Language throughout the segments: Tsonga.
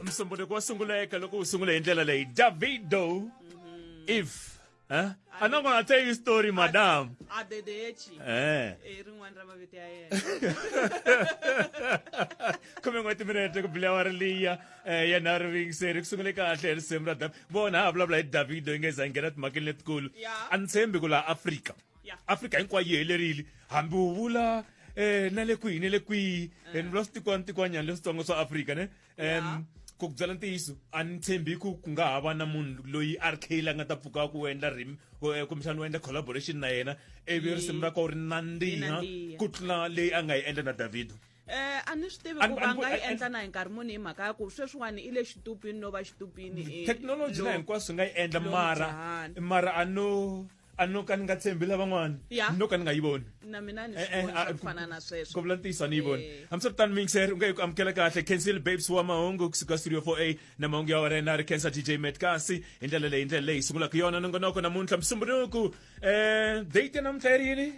msumbuluko wa sunguleka loko wu sungula hi ndlela leyi davido if eh? i'm not gonna tell you story madam adedechi eh. i rin'wana ra mavito ya yena khume n'we timinete ku bilawa ri liya eh, ya na ri ringiseri ku sungule kahle hi risimu ra davi vona ha vulavula hi davido yi nge za yi nghena timhakeni letikulu Yeah. a ni tshembi ku laha afrika afrika hinkwayo yi helerile hambi wu vula eh, na le kwihi na le kwihi eh, ni vula switikwantikwanyana leswitsongo swa afrika ne Yeah. um ku ku byela ntiyiso a ni tshembi ku ku nga ha va na munhu loyi rk la nga ta pfuka ku endla rim o, eh, kumbexana u endla collaboration na yena ivi Yi- risimu ra kona ri nandziha nandziha. ku tlula leyi a nga yi endla na davido Eh, a ni swi tivi An- ku va an- nga yi an- endla na hi nkarhi muni hi mhaka ya ku sweswiwani i le xitupini no va xitupini eh, technology lo- na hinkwaswo swi nga yi endla lowu mara dzahani. mara a no a no ka ni nga tshembi lavan'wana Ya. no ka ni nga yi voni na mina ni Eh, eh, swi vona ah, swa ku fana na ku sweswo vula ntiyiso a ni yi voni Eh. hambiswiritano mixer u nga yi ku amukela kahle cancel babes wa mahungu kusuka studio 4a na mahungu ya wena na ri cancer dj met kasi hi ndlela leyi hi ndlela leyi hi sungulaka yona nongonoko namuntlha musumbunuku um date ya namuntlha yi ri yini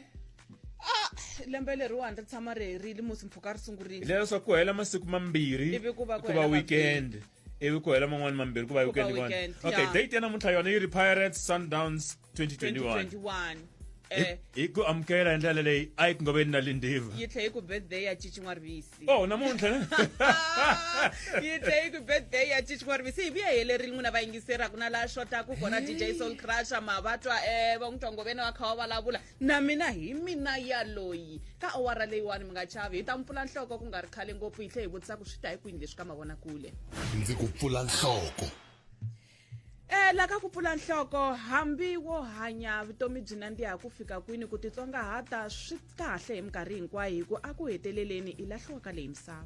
Ah, lembe leriwani ri tshama ri herile musi mpfhuka ri hi sungurile lero swa ku hela masiku mambirhi Ivi ku va ku ku va hela weekend ivi ku hela man'wana mambirhi ku va weekend yin'wana okay date ya namuntlha yona yi ri pirates sundowns 2021 eh. hi ku amukela hi ndlela leyi a yi ku ngoveni na lindiva yi tlhe yi ku birthday ya cici n'warivisi o oh, namuntlha yi tlhe yi ku birthday ya cici n'warivisi hi vuya helerile n'wina vayingiseri a ku na laha xotaku kona dj soul crusher mavatwa um eh, va n'wi twa ngoveni wa kha wa vulavula na mina hi mina yaloyi ka awara leyiwani mi nga chavi hi ta mi pfula nhloko ku nga ri khale ngopfu hi tlhe hi vutisa ku swi ta hi kwini leswi ka mavonakule ndzi ku pfula nhloko Eh la ka ku pfula nhloko hambi wo hanya vutomi byi nandziha ku fika kwini ku titsongahata swi kahle hi minkarhi hinkwayo hi ku a ku heteleleni i lahliwaka leyi misava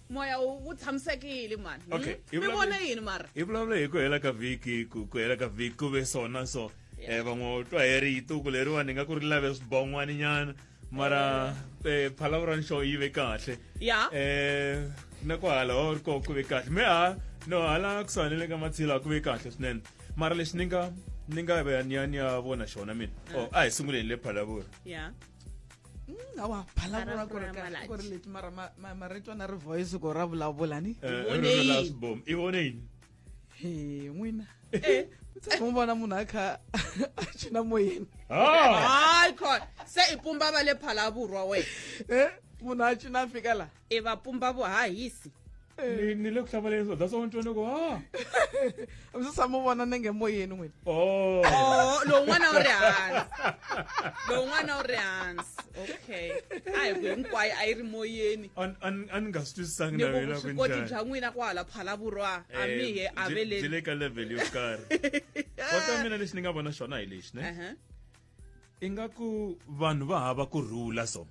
moya wu tshamisekile mani hmm? okay mi vona yini mara hi vulavula hi ku hela ka vhiki ku ku hela ka vhiki ku ve sona so eh van'we twa hi ri yituku leriwa ni nga ku ri lave swibon'wani nyana mara eh, eh phalavura nxo yi ve kahle ya eh na ku hala or ko ku ve kahle me ha no hala ku sanele ka matshila ku ve kahle swinene mara lexi ni nga ni nga ve ni ya ni ya vona xona mina oh a hi sunguleni le phalavura ya Mm, a wa phalavola gore leti mara marito na ri voice ko ra vulavula ni eh, i voneyini he n'wina eh. tshama u vona munhu a kha a cina moyeni ah! se i pumba va le phalavurwa wena eh, munhu a cina a fika laha i vapumba vuhahisi ni ni le ku hlamaleni so that's why ni twene ku ha mi se tshama u vona nenge moyeni n'wini oh oh lowun'wana u ri hansi lowun'wana u ri hansi okay a hi ku hinkwayo a yi ri moyeni An- an- a ni nga swi twisisangi ni na ku wena ku vuswikoti njhani bya n'wina kwahala phalavurwa a mi he Eh, byi- byi aveleni le ka level yo karhi kota mina lexi ni nga vona xona hi lexi ne Uh-huh. ingaku vanhu va hava ku rhula so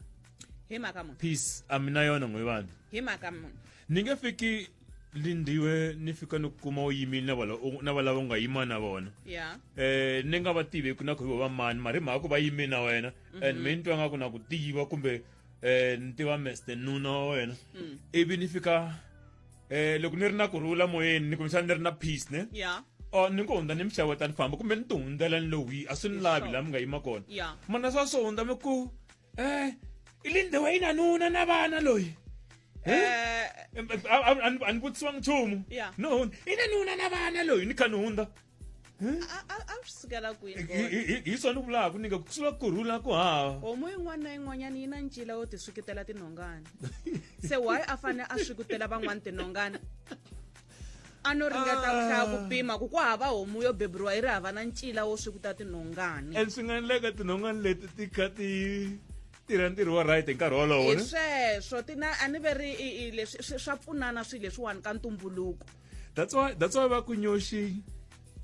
hi mhaka muni peace a mi na yona n'we vanhu hi mhaka muni ni nge fiki lindiwe ni fika ni kuma u yimile na vala- u- na valava u nga yima na vona ya eh ni nga va tivi ku na ku hi va mani mara hi mhaka ku va yime na wena and mi ni twa nga ku na ku tiva kumbe eh ni tiva meste nuna wa wena ivi ni fika eh loko ni ri na ku rhula moyeni ni kumbexana ni ri na peace ne yeah or ni ngo hundza ni mi xaweta ni famba kumbe ni ti hundzela ni lo hwi a swi ni lavi laha mi nga yima kona yeah mana swa swo hundza mi ku eh i le ndhawu yi na nuna na vana loyi Eh, a ni vutisiwangi nchumu Yeah. no hundza i na nuna na vana loyi ni kha ni hundza a swi sukela kwini hi swona u vulaka ninga ku sula ku rhula ku hava homu yin'wana na yin'wanyana yi na ncila wo tiswikitela tinhongana se why a fanele a swikutela van'wana tinhongana a no ringeta ku hlaya ku ah. pima ku ku hava homu yo beburiwa yi ri hava na ncila wo swikuta tinhongani and swi nga endleka tinhongani leti ti kha ti tirha ntirho wa right hi nkarhi wolowo sweswo tina a ni ve ri leswi swa pfunana swilo leswiwani ka ntumbuluko that's why that's why va ku nyoxi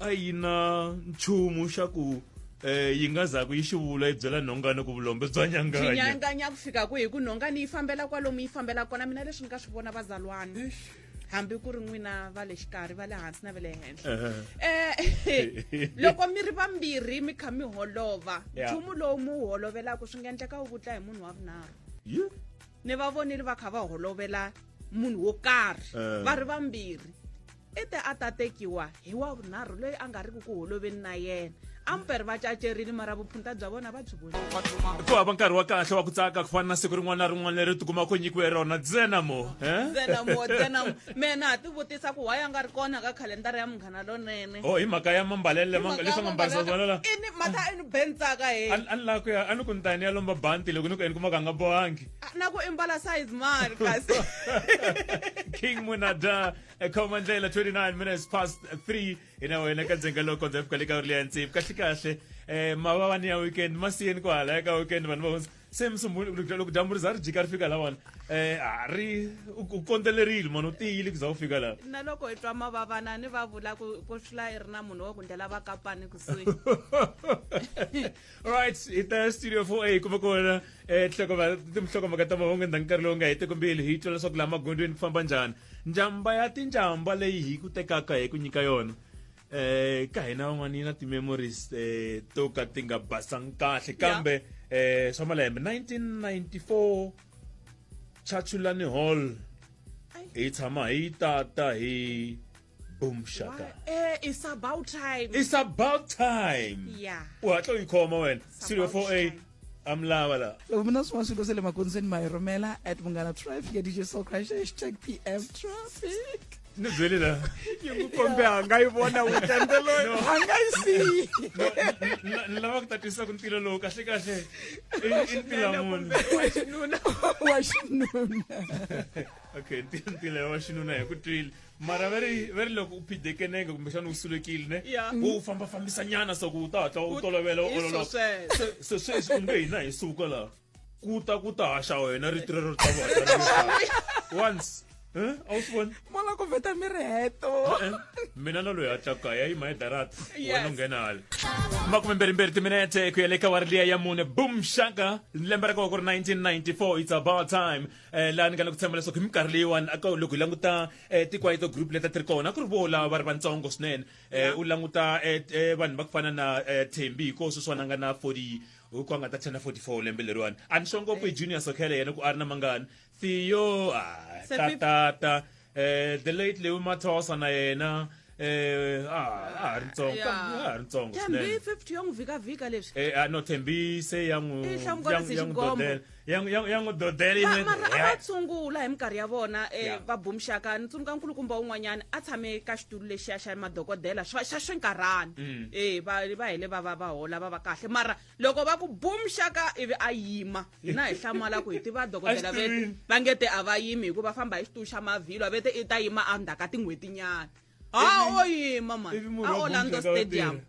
a yi na nchumu xa ku eh yi nga zaku yi xivula yi byela nhongani ku vulombe bya nyanganya nyanganya ku fika ku hi ku nhongani yi fambela kwalomu yi fambela kona mina leswi ni nga swi vona vazalwana hambi ku ri n'wina va le xikarhi va le hansi na va le henhla um eh, loko mi ri vambirhi mi kha mi holova nchumu lowu mi wu holovelaka swi nga endleka wu vutla hi munhu wa vunharhu ni va vonile va kha va holovela munhu wo karhi Eh. va ri vambirhi i te a ta tekiwa hi wa vunharhu loyi a nga ri ku ku holoveni na yena ampere va cacerile mara vuphunta bya vona va byi vonile ku hava nkarhi wa kahle wa ku tsaka ku fana na siku rin'wana na rin'wana leri tikuma ku nyikiwe rona ntsena mo eh? ntsena mo ntsena mo mena ha tivutisa ku why a nga ri kona ka khalendara ya munghana na lonene oh hi mhaka ya mambalelo lama Mhaka ya leswi nga mbarisa mambalelo. swona la I ni- mata i ni bentsaka he a a ni lava ku ya a ni ku nitani ya lomba banti loko ni ku yeni kuma ka nga bohangi Ah, na ku i mbala size mani kasi king munada ekhoma ndlela 29 minutes past 3 ina wena ka ndzenga loko ndza fika le ka uri leya ntsipi kahle kahle um mavavani ya weekend masiyeni ku hala ya ka weekend vanhu va hundza se msumbuni loko dyambu ri za ri jika ri fika lawani eh a ri u u kondzelerile mani u tiyile ku za u fika laha na loko hi twa mavavana ni va vula ku ku hlula i ri na munhu wa ku ndlela va kapani kusuhi right hi ta studio 4a kuma kona eh hlokova timhlokomaka ta mahungu endzhaku nkarhi lowu nga hete kumbili hi twa leswaku laha magondzweni ku famba njhani njhamba ya tinjhamba leyi hi ku tekaka hi ku nyika yona eh ka hina van'wana yi na ti-memories eh to ka ti nga basanga kahle kambe eh swa malembe 1994 chachulani hall hi tshama hi tata hi boom shaka eh it's about time it's about time yeah u hatla u yi khoma wena 048 amlava la loko mi na swin'wana swilo swa le magondzweni ma hi rhumela at munghana traffic ya dj soul crash hashtag pm traffic ni byele la kumbe a nga yi vona weekende loyi a nga yi siyi ni lava ku tatisa ku ntilo lowu kahle kahle i ntila munhu wa xinuna wa xinuna okay ntila wa xinuna hi ku twile mara va ri va ri loko u phidekeneke kumbexana u sulekile ne Yeah. wo u fambafambisa nyana so ku u ta hatla u tolovela u Hi ololoka swesweswo. Se- se sweswi u nge hina hi suka laha ku ta ku ta haxa wena rito rero ri ta ku haxa ri ta- once Eh, a wu swi voni mo la ku vheta mi ri heto Eh, mina na loyi a tlakaya yi mayidarata Yes. wena u nghena hale makume mbirhimbirhi timinete ku ya le ka wari liya ya mune boom shaka lembe ra kona ku ri 1994 it's about time eh, laha ni nga na ku tshemba leswaku hi minkarhi leyiwani aka loko hi languta eh, tikwaito group leta ti ri kona ku ri vo lava va ri vantsongo swinene eh, u languta eh, eh, vanhu va ku fana na eh, thembi hikoho sweswiwani a nga na 40 huku a nga ta tshena 44 lembe leriwani a ni swo ngopfu hi junior sokhele yena ku a ri na mangani theo ah, Sefi- tatata eh the late lewu mathosa na yena eh a a ha ri ntsongo ka- a ha ri ntsongo thembi swinene. 50 yo n'wi vhikavhika leswi Eh, ah, no thembi se ya n'wi I hlamuka ya n'wi- leswi ya n'wi xigombo. dodela- ya n'wi- ya n'wi- ya n'wi dodela yi Va- n'wi- mara a va tshungula hi minkarhi ya vona um Yeah. va bumxaka ni tsundzuka nkulukumba un'wanyana a tshame ka xitulu lexiya xa madokodela xa xa xinkarhana Mm. e va va hele va va va hola va va kahle mara loko va ku boom xaka ivi a yima hina hi hlamala ku hi tiva dokodela ve va nge te a va yimi hi ku va famba hi xituwu xa mavhilwa ve te i ta yima endzhaku ka tin'hwetinyana a o yima mani a orlando stadium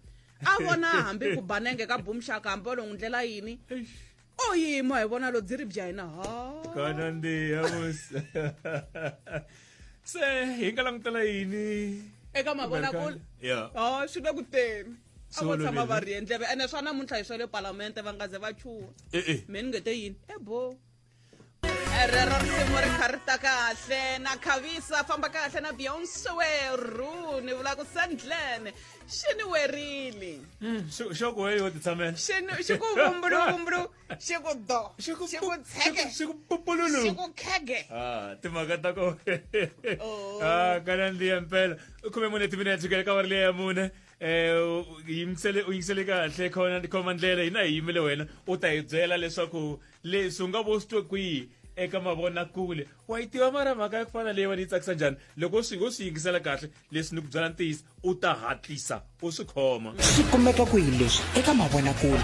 a vona hambi ku banenge ka boom xaka hambi va lo n'wi ndlela yini o yima hi vona lo dziri bya hina ha se hi nga langutela yini eka mavonakule ya o swi le ku teni a vo tshama va ri endleve ene swa namuntlha hi swa le palamente va nga ze va chuwa e e me ni nge te yini e bo rero risimu ri kha ri ta kahle na khavisa famba kahle na beyonce weru ni vula ku sandlene xi ni werile hmm, xoko we yo titshamela xi ku vumbuluvumbulu xi ku do xi ku tsheke xi ku pupululu xi ku khege ah, timhaka ta ko oh. ah, ka nandziya mpela khume mune timinete sukela ka va ri leya mune eh yingisele u yingisele kahle khona khoma ndlela hina hi yimele wena u ta hi byela leswaku leswi u nga vo swi twe kwihi eka mavonakule wa yi tiva mara mhaka ya ku fana leyi va ni yi tsakisa njhani loko u swi ngo swi yingisela kahle leswi ni ku byela ntiyiso u ta hatlisa u swi khoma swi kumeka ku yini leswi eka mavonakule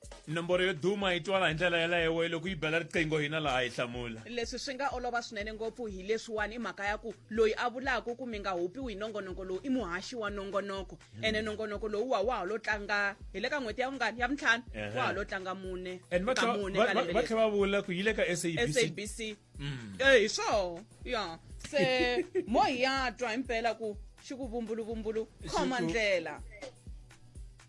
nomboro yo duma yi twala hi ndlela yeleyo we loko yi bela riqingho hina laha hi hlamula leswi swi nga olova swinene ngopfu hi leswiwani i mhaka ya ku loyi a vulaka ku mi nga hupiwi hi nongonoko lowu i muhaxi wa nongonoko hmm. ene nongonoko lowu wa wa ha lo tlanga hi le ka n'hweti ya vungani ya vuntlhanu wa ha lo tlanga mune va tlhela va vula ku yi le ka sabc hmm. eh, hi swo ya se mo hi ya twa himpela ku xi ku vumbuluvumbulu khoma ndlela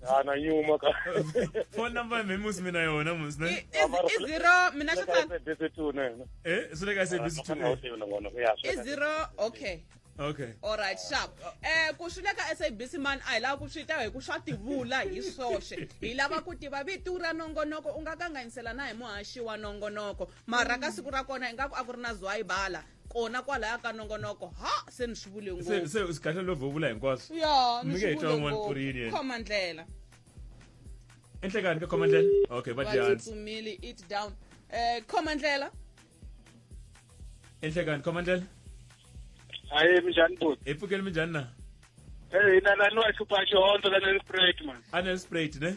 a na nyuma ka phone number me musi mina yona musi ne I- i- i zero mina xo tala bese tu na yena eh so le ka se busy to eh yona ngwana ku ya i zero okay okay alright sharp eh ku swi le ka sabc man a hi lava ku swi ta hi ku swa tivula hi swoxe hi lava ku tiva vito ra nongonoko u nga kanganyisela na hi muhaxi wa nongonoko mara ka siku ra kona ingaku a ku ri na zwayi bala kona kwalaya ka nongonoko ha se ni swi vule se ngopfu se sikahle love vula hinkwaswo ya ni Mi nge swi hi twa vule un'wana ngopfu. purini yena. khoma ndlela enhlekani ka khoma ndlela okay va dyansi vatsutsumile it down um khoma ndlela enhlekani khoma ndlela hayi minjhani bhuti hi pfukeli mi njhani na e hina laniwa xiphaxihondzo la nelsprate man a nelsprat ne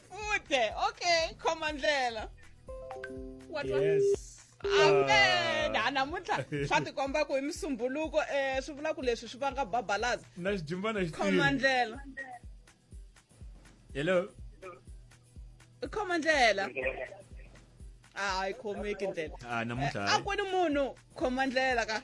fude okay khoma ndlela What was- yes amen ha namuntlha swa tikomba ku hi musumbhuluko um swi vula ku leswi swi vanga babalaza na xijimba na khoma xitiri ndlela hello khoma ndlela a yi khomeki ndlela ah namuntlha a ku ni munhu khoma ndlela ka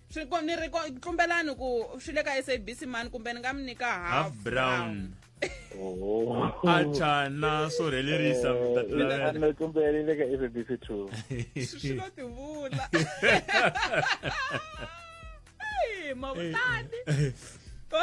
swi ko- ni ri ko- tlumbelani ku swi le ka sabc mani kumbe ni nga mi nyika half half brown brown Oh. acha na swo rhelerisa mi ta tilavela Ni tumberile ka SABC 2. Swi- swi lo tivula Ai, mavulani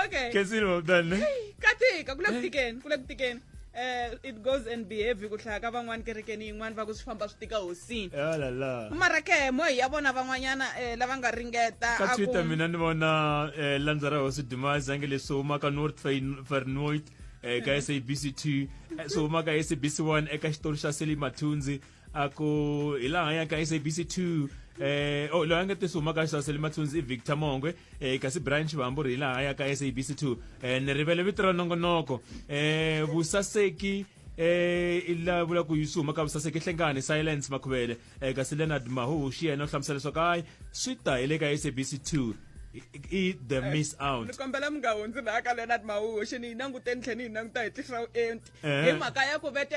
okay kensile babdane katika kule kutikeni kule kutikeni eh it goes and behave ku hlaya ka van'wani kerekeni yin'wani va ku swi famba swi tika hosini yalala mara ke moyi ya vona van'wanyana eh, lava nga ringeta ka a ku- twitter mina ni vona eh, landza ra hosi dumas ange leswi humaka north vernoit eka sabc 2 swi humaka sabc 1 eka xitori xa seli mathunzi a ku hi laha ya ka sabc 2 eh oh loyi a nga tisuma ka xisaseli matshundzi i victor mongwe eh kasi brian xivambu ri hi laha ya ka sabc 2 eh ni rivele vito ra nongonoko eh vusaseki eh ila vula ku yisuma ka vusaseki hlengani silence makhuvele eh kasi leonard mahuhu xi yena u hlamusela leswaku hayi swi ta hi le ka sabc 2 i- i the miss out ni kombela mi nga hundzi laha ka leonard mahuhu xi ni yi languteni tlhe ni yi languta hi tihlawuenti Eh. hi mhaka ya ku vete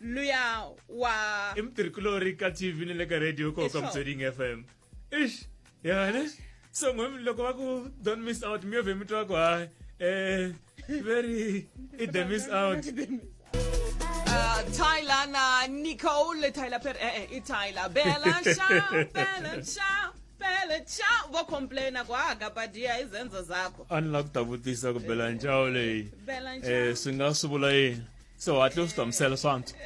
luya wa i mutirhikulori ka tv ni le ka radio ko ka motsweding fm ish yane so ngwem loko va ku don't miss out mi yove mi twa ku hayi um very i the miss out Uh, Tyler na Nicole Tyler per eh, eh, Tyler Bella Ciao Bella Ciao Bella Ciao vo complaina ku ha gabadia hi zendzo zakho a ni la ku ta vutisa ku Bella Ciao leyi Bella eh, Ciao eh swi nga swi vula yini so wa tlhe u swi hlamusela swantshwa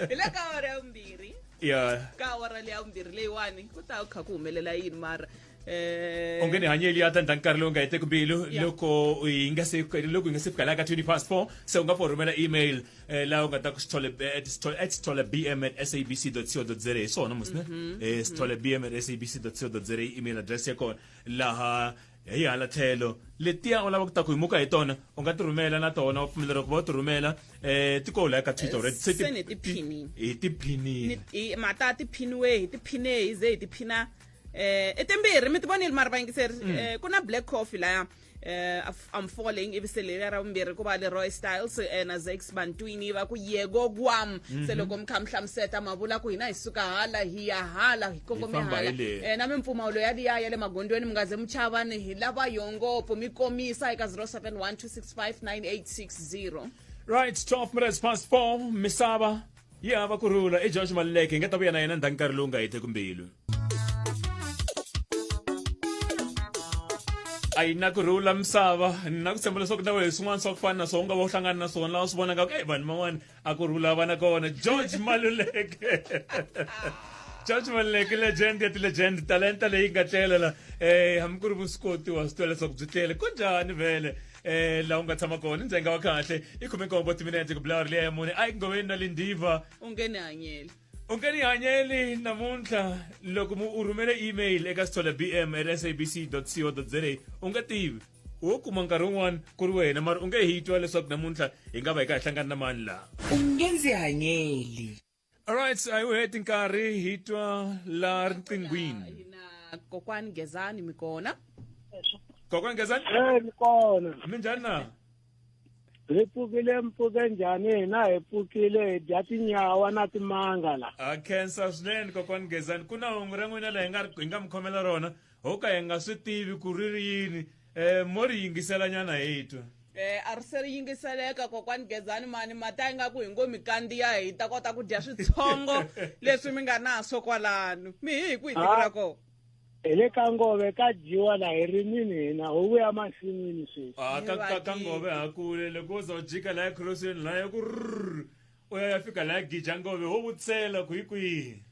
hi le ka awara ya vumbirhi ya ka awara leya vumbirhi leyiwani ku ta kha ku humelela yini mara Eh, onge ni hanyeli ya ta nkarhi lowu nga heteki mbilu loko yi nga se loko yi nga se fikalaka 20 past 4 se u nga fo rhumela email eh, laha u nga ta ku sithole eh, at sithole bm at sabc co za hi swona musne mhm, mhm. sithole bm at sabc co za email address ya kona laha hi hala tlhelo letiya u lava ku ta ku himuka hi tona u nga ti rhumela na tona u pfumelela ku va u ti rhumela um eh, ti kola eka twitter already se ni tiphinile hi tiphinile mata tiphiniwe hi tiphine hi ze hi tiphina eh i timbirhi mi ti vonile mari vayingiseri mm. eh, ku na black coffee laya eh I'm falling ivise leriya ra vumbirhi ku va leroy styles eh, na zex bantwini va ku yego kwam se mm-hmm. loko mi kha mi hlamuseta ma vula ku hina hi suka hala hi ya hala kongomela eh, na mimpfumawulo ya liya ya le magondweni mi nga ze mi chavani hi lava yongopo mi komisa eka 0712659860 right 12 minutes past 4 misava yi hava ku rhula i josh maluleke hi nga ta vuya na yena ndzhaku nkarhi lowu nga hete kumbilu a yi na ku rhula misava ni na ku tshemba leswaku na wehe swin'wana swa ku fana na swona u nga va u hlangana na swona lawa swi vonaka ku e vanhu van'wana a ku ri ku lava na kona george maluleke george maluleke legend ya ti-legend talenta leyi nga tlela la um hambi ku ri vuswikoti wa swi tiva leswaku byi tlele ku njhani vhele eh la u nga tshama kona ndzenga wa kahle i khome nkombo timinete ku bulawuri liya ya mune a yi ku ngoveni na lindiva u nge ni hanyeli u nge ni hanyeli namuntlha loko mu u rhumele email eka sithole bm at sabc co za u nga tivi wo kuma nkarhi wun'wana ku ri wena mara u nge hi twa leswaku namuntlha hi nga va hi ka hi hlangana na mani laha u nge ndzi hanyeli alright a hi wu heti nkarhi hi twa la riqinghwini kokwani gezani mi kona kokwani gezani e mi kona mi njhani na hi pfukile mpfuke njhani hina hi pfukile hi dya tinyawa na timanga la a khensa swinene kokwani gezani ku na hungu ra n'wina la hi nga hi nga mi khomela rona ho ka hi nga swi tivi ku ri ri yini um mo ri yingiselanyana hi twa Eh a ri se ri yingiseleka kokwani Gezani mani mata yi nga ku hi ngo mi kandziya hi ta kota ku dya switshongo leswi mi nga na swo kwalano mi hi hi ku hi tiko ra kona hi le ka ngove ka dyiwa la hi rimini hina ho vuya masin'wini sweswi Ah, ka- ka- ka ngove ha kule loko u za u jika la ekhorosweni la ya ku rrr u ya ya fika laha gijangove wo vutsela ku hi kwihi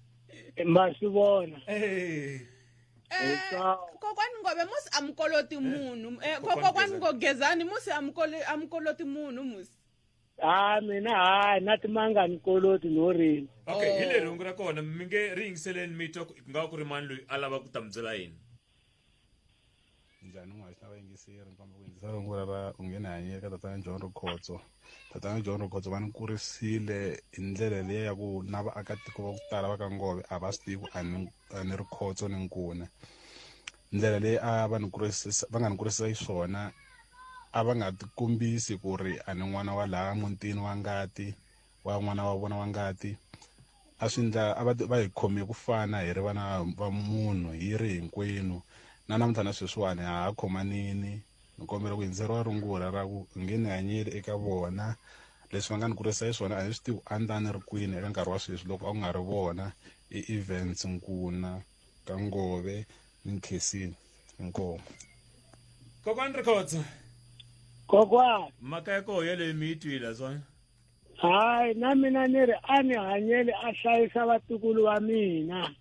ma swi vona Eh, Hikwalaho. kokwani ngove musi a mi koloti munhu Eh, ko- Kokwani kokwani Gezani. ngogezani musi a mi kole- a mi koloti munhu musi ha mina hayi na timanga ni koloti no rini okay Oh. hi leri hungu ra kona mi nge ri yingiseleni mi twa ku ku nga va ku ri mani loyi a lava ku ta mi byela yini njhani n'wi haxa vayingiseri nkombe ku yingisela rungula ra u nghene hanye ka tatana john rikhotso tatana john rikhotso va ni kurisile hi ndlela leyi ya ku na vaakatiko va ku tala va ka ngove a va swi tivi ku a ni a ni rikhotso ni nkuna ndlela leyi a va ni kurisisa va nga ni kurisisa xiswona a va nga ti kombisi ku ri a ni n'wana wa laha mutini wa ngati wa n'wana wa vona wa ngati a swi ndla a va va hi khome ku fana hi ri vana va munhu hi ri hinkwenu na namuntlha na sweswiwani ha ha khomanini ni kombela ku hindzeriwa rungula ra ku nge ni hanyeli eka vona leswi va nga ni kurisa hi swona a hi swi tivi a ni ta ni ri kwini eka nkarhi wa sweswi loko a ku nga ri vona i events nkuna ka ngove ni nkhesini inkomo kokwani records kokwani mhaka ya koho yeleyo mi yi twile swona hayi na mina ni ri a ni hanyeli a hlayisa vatukulu va mina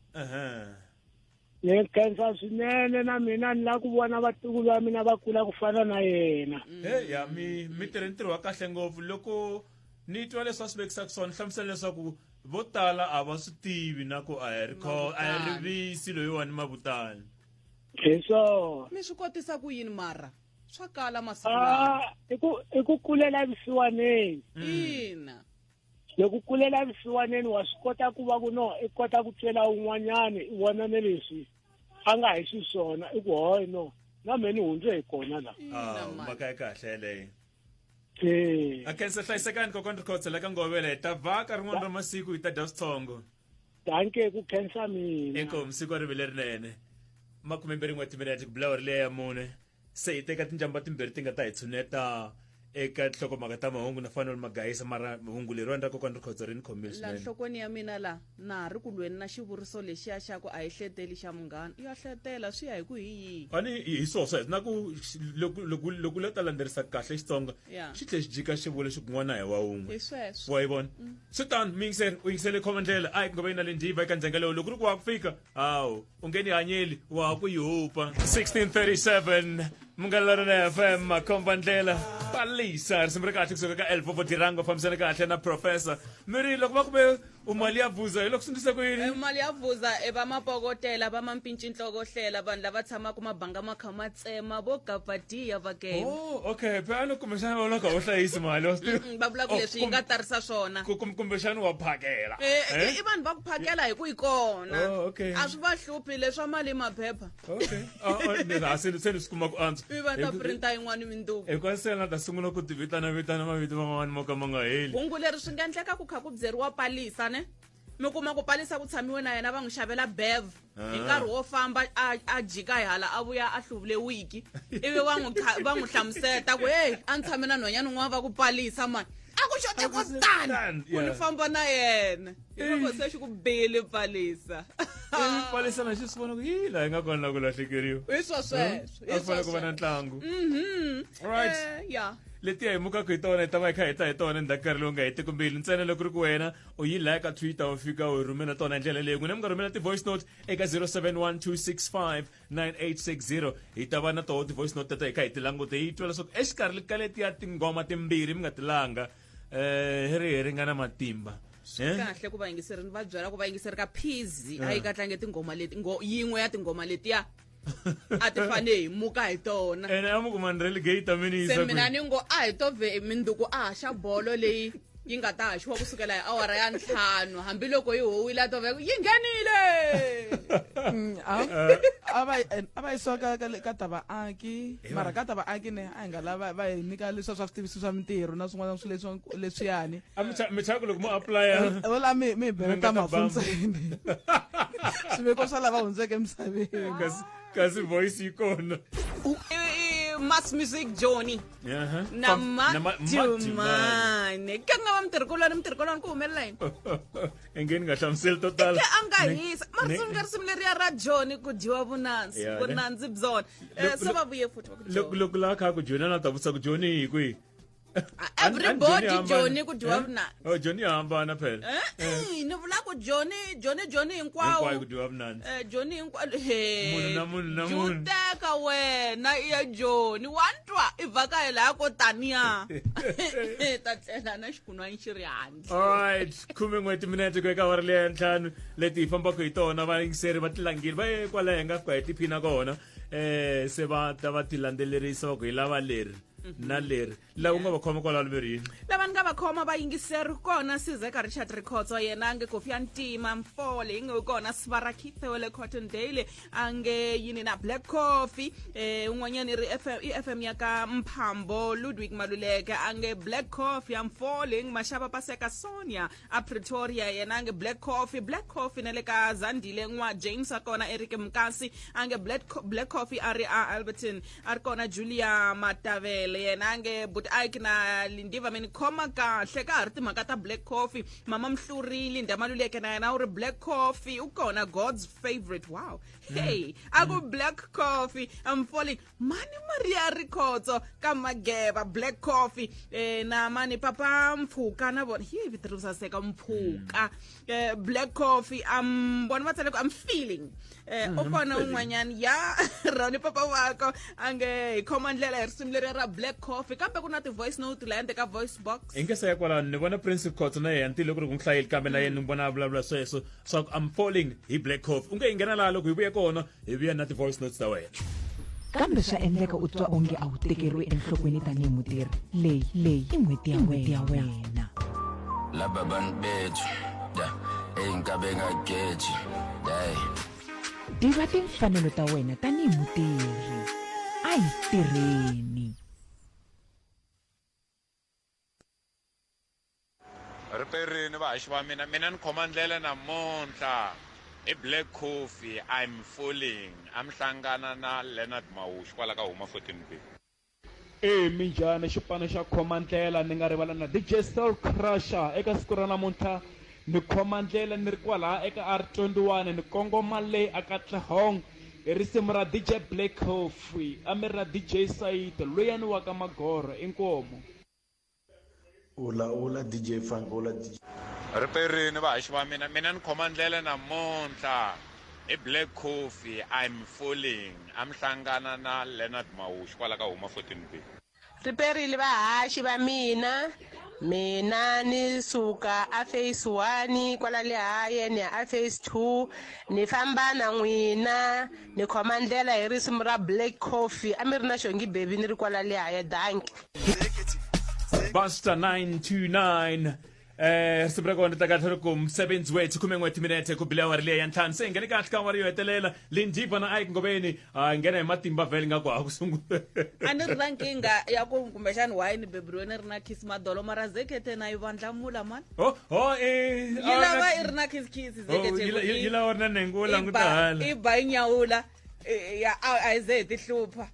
ni khensa swinene na mina ni lava ku vona vatukulu va mina va kula ku fana na yena mm. he ya mi mi tirhe ntirho wa kahle ngopfu loko ni twa leswi va swi vekisaka swona hlamusela leswaku vo tala a va swi tivi na ku a hi rikho a hi rivisi loyiwani mavutani hi swona mi swi kotisa ku yini mara swa kala masiku lawa Ah, i ku i ku kulela vusiwaneni ina loko u kulela vusiwaneni wa swi kota ku va ku no i kota ku twela un'wanyana i vona ne leswi a nga hi xiswona i ku hoye no na me ni hundze hi kona la ina Ah, mani. mhaka ya kahle yeleyo ee a khensa hlayisekani kokwana ri khotsela ka ngovela hi ta vaka rin'wana ra masiku hi ta dya switsongo danke ku khensa mina inkomu siku ri vile rinene makume mbirhi n'we timinete ku bulawa ri leya mune se hi teka tinjamba timbirhi ti nga ta hi tshuneta eka tinhlokomhaka ta mahungu na fanele magayisa mara hungu leriwani ra kokwana rikhotso ri ni khomile la nhlokweni ya mina la na ha ri ku lweni na xivuriso lexiya xa ku a hi hleteli xa munghana ya hletela swi ya hi ku hi yihi ani hi swo sweswo na ku loko la ta landzelerisa kahle xitsonga xi tlhe xi jika xi vula xi kun'wana hi wa wun'we wa yi vona mm. swi tano miyingiseri u yingisele khoma ndlela a yi ku nga va yi na le ndiva eka ndzhenga lowu loko ri ku wa ku fika hawu u nge ni hanyeli wa ha ku yi hupa 1637 mungalelo na fm makhomba ndlela palisa risimu ri kahle kusuka ka elvovo dirango fambisana kahle na professor miri loko va ku ve u mali ya vuza hi loko sindise ku yini mali ya vuza i vamapokotela vamampincinhloko hlela vanhu lava tshamaka mabanga ma matsema vo gabadiya va ke oh okay phela kumbexana va vulaka u hlayisi mali wa va vulaka oh, leswi yi nga tarisa swona kumbexana wa phakela eh, eh, eh? i vanhu va ku phakela hi ku yi kona oh, a swi va hluphi leswa mali maphepha ah, ah, se ni swi kuma ku antswa i va ta printa yin'wana minduku hikuva se na ta sungula ku tivitana vitana mavito man'wana mo ka ma nga heli hungu leri swi nga endleka ku kha ku byeriwa palisa ne mi kuma ku palisa ku tshamiwe na yena va n'wi xavela bev ah. hi nkarhi wo famba a jika hi hala a vuya a hluvule wiki ivi va n'wi hlamuseta ku heyi a ni tshame na nhwanyana un'wana va ku palisa mani a ku xote ko tani ku ni famba na yena hiloko se xi ku bele palisa palisa na xi swi vona ku yi laha yi nga kona la ku lahlekeriwa hi swo sweswo a fanele ku va na ntlangu mhm. right eh, ya leti hi mukaka hi tona hi ta va hi kha hi ta hi tona ndzhaku karhi lowu nga heti kumbili ntsena loko ri ku wena u yi like ka twitter u fika u rhumela tona hi ndlela leyi n'wina mi nga rhumela ti-voice note eka 0712659860 hi ta va na toho ti-voice note teto hi kha hi ti languta hi twa leswaku exikarhi ka letiya tinghoma timbirhi mi nga ti langa um hi ri hi ri nga na matimba eh? kahle ku vayingiseri ni va byela ku vayingiseri ka phizi a yi ka tlange tinghoma leti yin'we ya tinghoma letiya a ti fane hi muka hi tona ene a mukumani relegate se mina ni ngo a hi tove minduku a haxa bolo leyi yi nga ta haxiwa ku sukela hi awara ya ntlhanu hambiloko yi howile a tove yi nghenile mm, a va yi soka ka ta vaaki mara ka ta vaaki ne a hi nga lava va hi nyika leswa swa switiviso swa mintirho na swin'wana swi leswiyani a mi mi chaka loko mo applya wala mi mi bereta mafuntseni swiveko swa lava hundzeke emisaveni kasi kasi voice yi kona mass music johnny uh-huh. na matumane ka nga va mutirhikulwani mutirhikulwani ku humelela yini engeni nga hlamuseli to tala a nga hisa mara swi nga risimu leriya ra johnny ku dyiwa vunandzi vunandzi byona eh, se va vuye futhi loko laha kha ku johnny a na ta vutisa ku johnny hi kwihi everybody joni ku dyiwa vunanga eh? oh, joni ya hambana phela eh, eh, ni vula ku joni joni joni hinkwawo ku dyiwa vunanga joni hinkwawomunhu na munhu na munhu teka wena ya joni wa ntwa i vhakayo laya ko taniya ta tlela na xikunwani xi ri handle alright khume n'we timinete ku eka wari leya ntlhanu leti hi fambaka hi tona vayingiseri va tilangile va ye kwalaya hi nga fika hi tiphina kona um se va ta va tilandzelerisa va ku hi lava leri mhm. na leri lava u nga va khoma kwalalo veri yini lava ni nga va khoma va yingiseri kona sizeka richard rikhotso yena a nge kofi ya ntima mfole yi nge kona sivara kithewele cotton daily a nge yini na black coffee um un'wanyana i ri i f m ya ka mphambo ludwig maluleke a nge black coffee ya mfole yi nge maxava paseka sonia apretoria yena a nge black coffee black coffee na le ka zandile n'wa james a ri kona erike mukasi a nge black, co- black coffee a ri a alberton a ri kona julia matavele yena a nge but ike na lindiva mi ni khoma kahle ka ha ri timhaka ta black coffee mama mhlurile ndamaluleke na yena u ri black coffee u kona god's favorite wow hey a ku black coffee i'm falling mani maria rikhotso ka mageva black coffee eh, na mani papa mpfhuka na vona hi vito ri saseka mpfhuka eh, black coffee um vona va tsale ku i'm feeling eh, u kona un'wanyana ya rani papa wako a nge hi khoma ndlela hi risimu leri ra black coffee kambe ku na ti-voice note la yende ka voice box hi nge se ya kwalano ni vona prince khotso na yena ntile ku ri ku n'wi hlayeli kambe na yena ni n'wi vona a vulavula sweswo swa ku i'm falling hi black coffee u nge hi nghena laha loko hi vuye kona hi vuya na ti-voice notes ta wena kambe swa endleka u twa onge a wu tekeriwi enhlokweni tanihi mutirhi leyi leyi i n'hweti ya n'hweti ya wena laba bantu bethu da eyinkabe ngageji dayi tiva timfanelo ta wena tanihi mutirhi a yi tirheni riperini vahaxi va mina mina ni khoma ndlela namuntlha hi black coffee i'm falling a mi hlangana na leonard mawuxi kwala ka huma 14 bay Eyi minjhani xipano xa khoma ndlela ni nga rivala na DJ Soul Crusher eka siku ra namuntlha ni khoma ndlela ni ri kwalaya eka R21 ni kongoma le aka Tlhong I risimu ra DJ Black Coffee a mi ri ra DJ Saito loyani wa ka Magoro inkomu. Ula ula DJ Funk ula DJ. Riperini vahaxi va mina mina ni khoma ndlele namuntlha i Black Coffee I'm falling a mi hlangana na Leonard Mawuxi kwala ka Huma 14 B. Riperile vahaxi va mina, mina ni suka a phase 1 kwala le haye ni ya a phase 2 ni famba na n'wina ni khoma ndlela hi risimu ra black coffee a mi ri na xongi baby ni ri kwala le haye danki Buster 929 Eh, risimu ra kona ta kahle ri ku msebenzi wethu khume n'we timinete ku bile awari leyi ya ntlhanu se hi nghene kahle ka awari yo hetelela lindiva na ike ngoveni a nghena hi matimba vhele nga ku ha ku sungula a ni ri na nkingha ya ku kumbexani wayi ni beburiwe ni ri na khisi madolo mara zekete na yi vandlamula mani ho ho eh, yi lava i ri na khisikhisi oh, yi lawa ri na nengu u languta hala i ba yi nyawula eh, ya a yi ze hi ti hlupha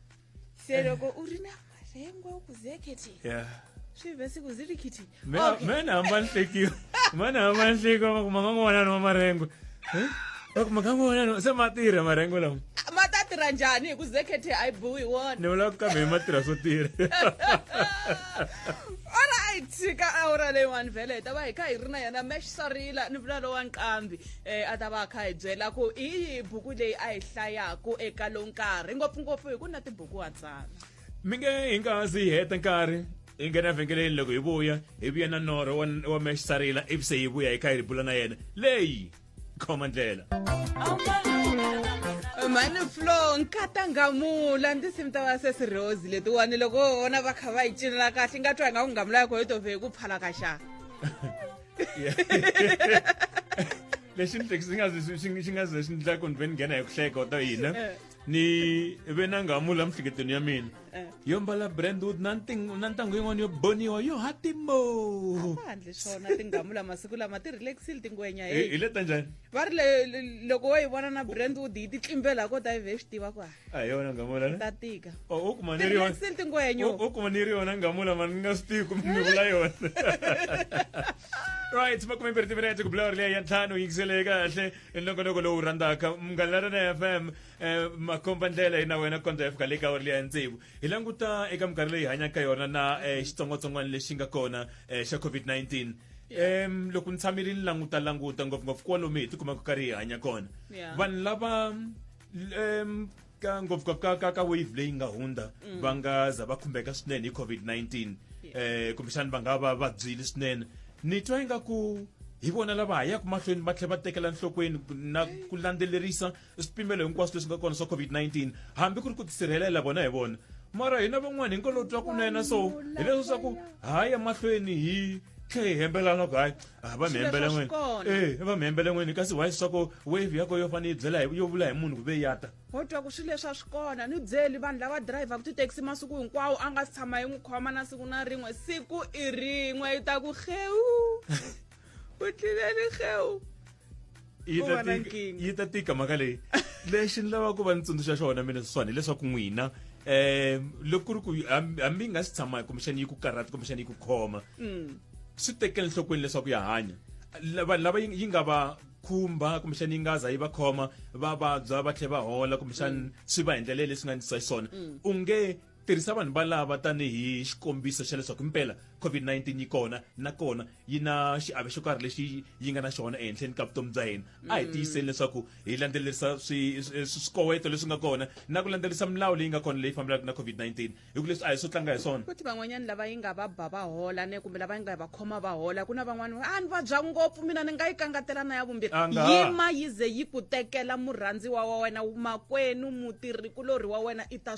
se loko u ri na marengwa u ku zeketi yeah swi ve siku zi ri khiti me Okay. me ni hamba ni hlekiwa me ni hamba ni hlekiwa va ku ma nga n'wi vonani wa marengo Eh? va ku ma nga n'wi vonani wa- se ma tirha marengo lama ma ta tirha njhani hi ku zeketi a yi biwi hi wona ni vulaka ku kambe hi ma tirha swo tirha olright ka awura leyiwani vhele hi ta va hi kha hi ri na yena mesh sarila ni vula lowa nqambi e a ta va a kha hi byela ku hi yihi buku leyi a yi hlayaku eka lowu nkarhi ngopfungopfu hi ku na tibuku wa tsala mi nge hi nga zi hi heta nkarhi hi nghena evhengeleni loko hi vuya hi vuya na norho wa wa mexisarila ivi se hi vuya hi kha hi bula na yena leyi khoma ndlela mhani flo nkata ngamula ni tinsimu ta va sesi rose letiwani loko vona va kha va yi cinela kahle nga twa hi nga ku ngamula yako hi tove hi ku phala kaxana lexi ni hlekisi nga xi nga ze xi ni dlaya ku ni ve ni nghena hi ku hleka ta hina eh. ni ve na nga mula mihleketweni ya mina eh. yo mbala brandwood na na ntango yin'wana yo boniwa yo hatimo handle swona tingamula masiku lama ti relaxile tingwenya hi le ta njhani va ri loko wo yi vona na brandwood yi ti tlimbela ko ta yi ve swi tiva ku a hi yona ngamula ne ta tika Oh, u kuma ni ri yona tirhisa tingwenyo u u kuma ni ri yona ngamula mani ni nga swi tivi kumbe ni vula yona right makume mbirhi timinete ku bulawuri leyi ya ntlhanu yingisele kahle nongonoko lowu rhandzaka munghana la rona f m eh, makomba ndlela yi na wena kondza ya fika le ka wuri leyi ya ntsevu hi languta eka minkarhi leyi hi hanyaka ka yona na eh, xitsongwatsongwana lexi nga kona eh, xa covid-19 em loko ni tshamile ni languta languta ngopfungopfu kwalomu hi tikumaka karhi hi hanya kona Yeah. vanhu lava um, ka ngopfu ka- ka ka ka wave leyi nga hundza va nga za va khumbeka swinene hi covid-19 eh kumbexani va nga va vabyile swinene ni twa ingaku hi vona lava hayaka mahlweni va tlhela va tekela nhlokweni ku- na ku landzelerisa swipimelo hinkwaswo leswi nga kona swa covid-19 hambi ku ri ku tisirhelela vona hi vona mara hina van'wana hi nga lo twa kunene so hileswo swa ku haya mahlweni hi tlhe hi hembelana ku hayi Ah, va mi Swilo hembela swa n'wini swikolo. Eh, va mi hembela n'wini kasi why swa ku wave ya ko yo fane yi byela hi- yo vula hi munhu ku ve ya ta ho twa ku swilo leswi a swi kona ni byeli vanhu lava dirayivhaka tithekisi masiku hinkwawo a nga si tshama yi n'wi khoma na siku na rin'we siku i rin'we yi ta ku xewu u tlileli xewu yi Ku ta va na tika- nkingha. yi ta tika mhaka leyi lexi ni lavaka ku va ni tsundzuxa xona mina sweswiwani hileswaku n'wina um loko ku ri ku ham- hambi yi nga si tshama kumbexani yi ku karhata kumbexani yi ku khoma Mm. swi tekela enhlokweni leswaku ya hanya La- vanhu lava yi yi nga va khumba kumbexani yi nga za yi va khoma va vabya va tlhe va hola kumbexani swi va hi ndlela leyi leswi nga ndisa xiswona u nge Tirhisa vanhu valava tanihi xikombiso xa leswaku impela COVID-19 yi kona nakona yi na xiave xo karhi lexi yi nga na xona ehenhleni ka vutomi bya hina a hi tiyiseni leswaku hi landzelerisa swikoweto leswi nga kona na ku landzelerisa milawu leyi nga kona leyi fambelanaka na COVID-19 hi ku leswi a hi swo tlanga hi swona futhi van'wanyana lava yi nga va ba va hola ne kumbe lava yi nga va khoma va hola ku na van'wana a ah, ni vabya ngopfu mina ni nga yi kangatela na ya vumbirhi yima yi ze yi ku tekela murhandziwa wa wena makwenu mutirhikulorhi wa wena i ta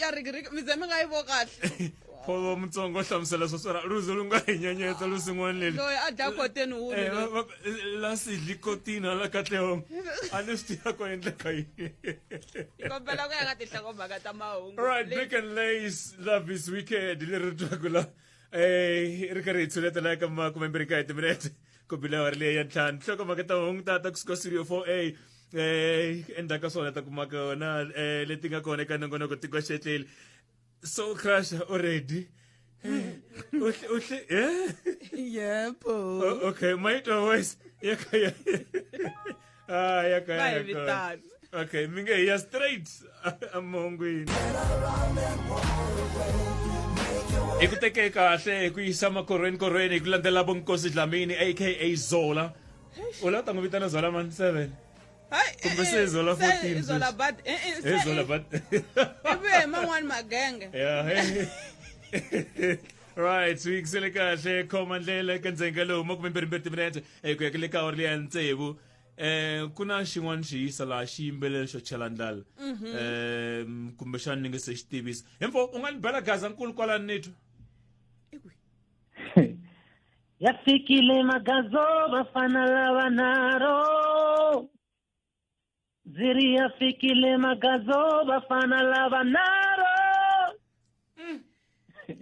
ya rigirigi mi ze mi nga yi vo kahle phovo mutsongo o hlamusela swo swera luze lu nga hi nyenyetsa lu sin'wana leli loyi a dya koteni wu Eh, va- va- la sidli kotini hala katlehong a ni swi tiva ko endleka yini kombela ku ya nga tinhlakomhaka ta mahungu Alright, Le- Big and Lace, Love is Wicked, leri ri twaku la eh ri karhi hi tshuletela eka makume mbirhi ka hi timinete ku bile awara leyi ya ntlhanu nhlokomhaka ta hungu ta ta kusuka studio 4a eh endzhaku ka swona ta kumaka yona eh leti nga kona eka nongonoko tiko xetleli soul crusher already uhle uhle eh yebo okay my voice yakaya Ah, ya kona, va ya hi kona. vitana okay mi nge hi ya straight emhongwini hi ku teke kahle hi ku yisa makorhweni korhweni hi ku landzela vonkosi dlamini aka zola u lava ta n'wi vitana zola man seven Hai, Kumbe eh, se eh, Zola se 14 Zola sweswi. Bad- eh, eh, se- he zola but ivuye hi man'wani magenge Yeah, hey. right, swi yingisele kahle khoma ndlela eka ndzenga lowu makume mbirhi mbirhi timinete eku ya ke le ka awara leyi ya ntsevu um ku na xin'wana xiyisa laha xi yimbelele xo chela ndlala um kumbexana ni nge se xi tivisa hemfo u nga ni bela gaza nkulu kwalani nitwa ya fikile magazo vafana lava naro dziri yafikile magazo vafana lava naro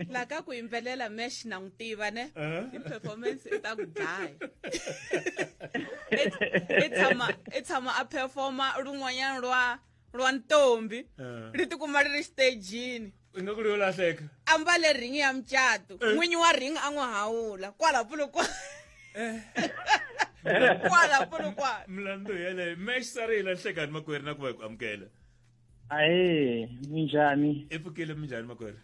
la ka ku yimbelela mesh na n'wi tiva ne i performance i ta ku dlaya i tshama i tshama a performa rin'wanyana rwa rwa ntombi ri tikuma ri ri xitejini i nga ku leyo lahleka a mbale ringi ya mucato eh. n'winyi wa ringi a n'wi hawula kwala pulukwa eh. kwala pulukwa mlando yeleyo mesh sari yi lahlekani makwerhu na ku va hi ku amukela ahe minjhani i pfukile minjhani makwerhu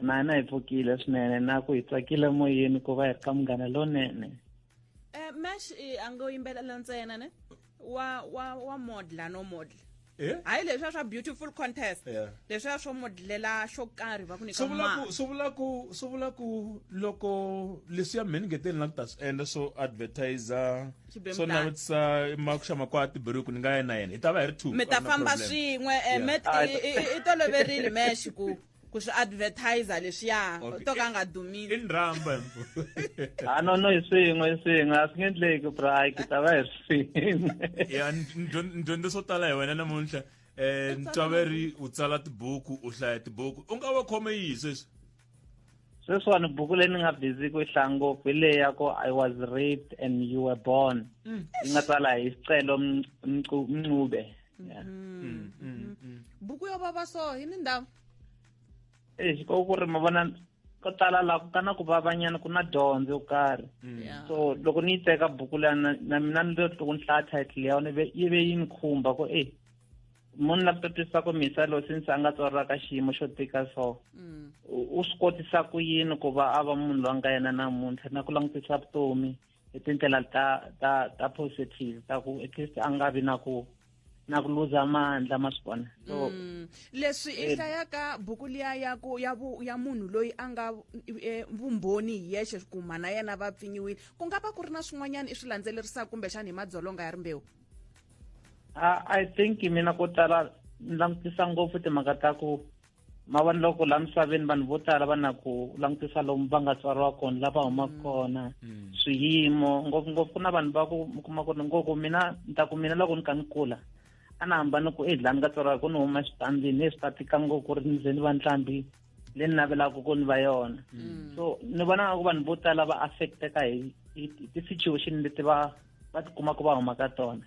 na na hi pfukile swinene na ku hi tsakile moyeni ku va hi ri ka munghana lonene um eh, mesh a ngo yimbelela ntsena ne wa wa wa modla no modla eh? hayi leswiya swa beautiful contest leswiya swo modlela xo karhi va ku nyika swi vula ku swi vula ku loko leswiya mheni ngeteni la ku ta swi endla swo advertiser swo navetisa maku xa makwati buruku ni nga yena yena hi ta va hi ri two mi ta famba swin'we eh, i toloverile mesh ku ku swi advertiser leswiya okay. to ka nga dumile i nrhamba ha no no hi swin'we hi swin'we a swi nge endleki braai ki ta va hi swin'we ya ndyondze swo tala hi wena namuntlha um ntswaveri u tsala tibuku u hlaya tibuku u nga va khome yihi sweswi sweswiwani buku leyi ni nga busy ku yi hlaya ngopfu hi leyi ya ku i was raped and you were born mm. yi nga tsala hi sicelo mncube Yeah. Mm, mm, mm. buku yo vava so hi ni ndhawu exi ko ku ri ma vona ko tala la ku ka na ku vavanyana ku na dyondzo yo karhi Yeah. so loko ni yi teka buku leya na na mina ni loko ni hlaya title ya yona yi ve yi ni khumba ku e munhu la ku ta twisisa ku misa lowu since a nga tswariwa ka xiyimo xo tika so Mm. u u swi kotisa ku yini ku va a va munhu loyi a nga yena namuntlha na ku langutisa vutomi hi tindlela ta ta ta positive ta ku at least a nga vi na ku na ku luza mandla ma swi vona so mm. leswi i eh, hlayaka buku liya ya ku ya vu ya munhu loyi a nga e, vumbhoni hi yexe ku mhana yena va pfinyiwile ku nga va ku ri na swin'wanyana i swi landzelerisaka kumbexana hi madzolonga ya rimbewu i think mina ko tala ni langutisa ngopfu timhaka ta ku ma vona loko la misaveni vanhu vo tala va na ku langutisa lomu va nga tswariwa kona la va humaka mm. kona mm. swiyimo ngopfungopfu ku na vanhu va ku kuma ku ri ngoko mina ni ta ku mina loko ni ka ni kula a ni hamba ni ku e dlani ka tswariwa ku ni huma eswitandini leswi ta tika ngoko ku ri ni ze ni va ntlambi leyi ni navelaka ku ni va yona mm. so ni vona nga ku vanhu vo tala va affecteka hi ti-situation leti va va tikumaka va huma ka tona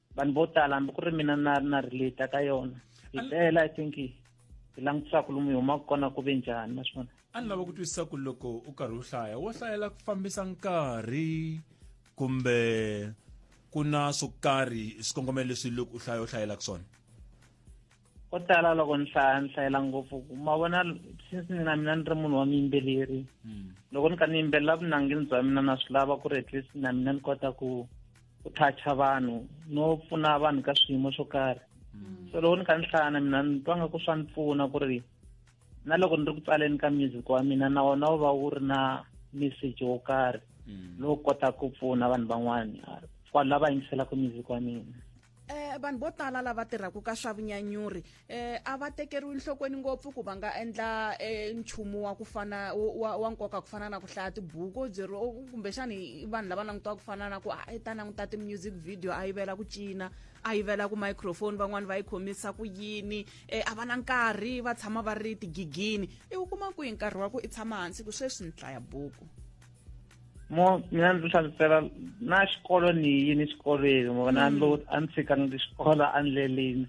vanhu vo tala hambi ku ri mina na na relate ka yona hi tele i think hi langutisa ku lomu hi humaka kona ku ve njhani ma swi vona a ni lava ku twisisa ku loko u karhi u hlaya wo hlayela ku fambisa nkarhi kumbe ku na swo karhi swikongomelo leswi loko u hlaya u hlayelaka swona ko tala loko ni hlaya ni hlayela ngopfu ma vona since ni na mina ni ri munhu wa miyimbeleri hmm. loko ni ka ni yimbelela vunangini bya mina na swi lava ku ri at least na mina ni kota ku ku toucha vanhu no pfuna vanhu ka swiyimo swo karhi hmm. so loko ni ka ni hlaya na mina ni twa nga ku swa ni pfuna ku ri na loko ni ri ku tsaleni ka music wa mina na wona wu va wu ri na message wo karhi hmm. lowu kotaka ku pfuna vanhu van'wana kwalava yingiselaka music wa mina eh vanhu vo tala lava tirhaka ka swa vunyanyuri eh a va tekeriwi nhlokweni ngopfu ku va nga endla eh, nchumu wa ku fana wa, wa nkoka ku fana na ku hlaya tibuku byeri kumbexani vanhu lava langutaka ku fana na ku a yi ta languta ti-music video a yivela ku cina a yivela ku microphone van'wani va yi khomisa ku yini eh, a va na nkarhi va tshama va ri tigigini i wu kuma kwihi nkarhi wa ku i tshama hansi ku sweswi ni hlaya buku mo mina ndzi hlamusela na xikolo ni yini xikolweni mo vona mm. a ni tshika ni xikolo andleleni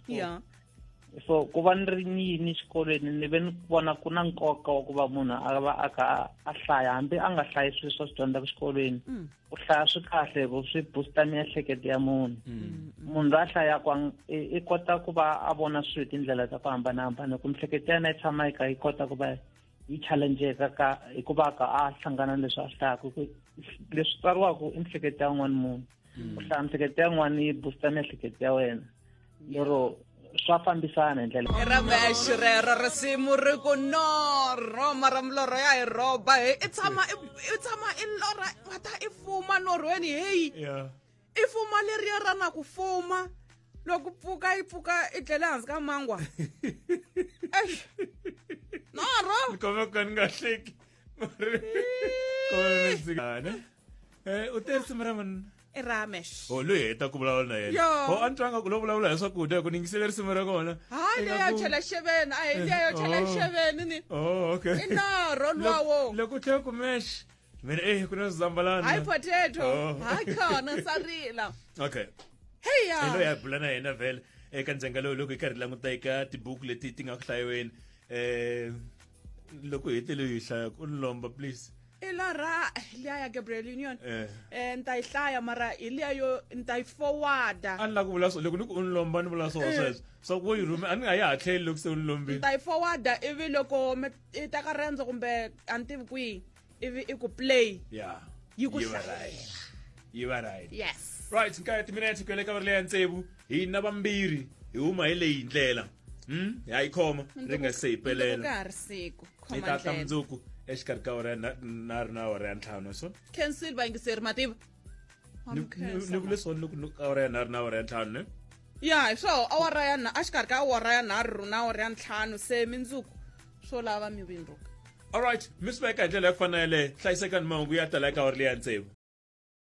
so ku va ni ri nyini xikolweni ni ve ni vona ku na nkoka wa ku va munhu a va a kha a hlaya hambi a nga hlayi swilo swa swi dyondzaka xikolweni mm. ku hlaya swi kahle ku swi boosta miehleketo ya munhu mm. munhu loyi a hlayaka i kota ku va a vona swilo hi tindlela ta ku hambanahambana ku miehleketo ya yena yi tshama yi kha yi kota ku va yi challengeka ka hikuva ka a hlangana leswi a swi hlayaku leswi tsariwaka i miehleketo ya n'wana munhu hmm. ku hlaya miehleketo ya n'wana yi boosta miehleketo ya wena lero swa fambisana hi ndlela ra meshi rero risimu ri ku no roma ra milorho ya hi roba he i tshama i tshama i lorha ngata i fuma norhweni heyi i fuma leriya ra na ku fuma loko pfuka yi pfuka i tlele hansi ka mangwa ex norho ni kome ku ka ni nga hleki komemesikane eh, u te risimu ra munhu i ramesh o oh, loyi heta ku vulavula na yena o oh, a ni twanga ku lo vulavula hi swakudya ku ningisele risimu ra kona ha leyi ya chela xeveni a hi leyi ya chela xeveni ni o oh, okay i norho luwawo loko u tlhela ku mesh mina eh ku na swizambalana hayi potato Oh. hayi khona sarila okay heyi ya ilo ya bula na yena vhele eka ndzhenga lowu loko hi karhi hi languta eka tibuku leti ti nga ku hlayiweni um loko hi hetele hi hlaya ku ni lomba please i la ra liya ya gabriel union Eh. um ni ta yi hlaya mara hi liya yo ni ta yi forwarda a ni la ku vula swo loko ni ku u ni lomba ni vula swo sweswo so ku yi rhume a ni nga yi hatlheli loko se u ni ni lombile ta yi forwarda ivi loko mi i ta ka rendzo kumbe a ni tivi kwihi ivi i ku play ya yi ku va right yi va right yes right nkaye timinete ku ya le kaveri leya ntsevu hina vambirhi hi huma hi leyi ndlela um ya yi khoma ri nga se hi pelela hi ta ta mundzuku exikarhi ka ora na ri na ora ya ntlhanu so cancel vayingiseri mativa ne ku le swona loko awara ya nharhu na awara ya ntlhanu ne ya hi swo awara ya na exikarhi ka awara ya nharhu na awara ya ntlhanu se mindzuku swo lava mi vindruka allright mi swi veka hi ndlela ya ku fana yaleyo hlayisekani mahungu ya tala eka awara leyi ya ntsevu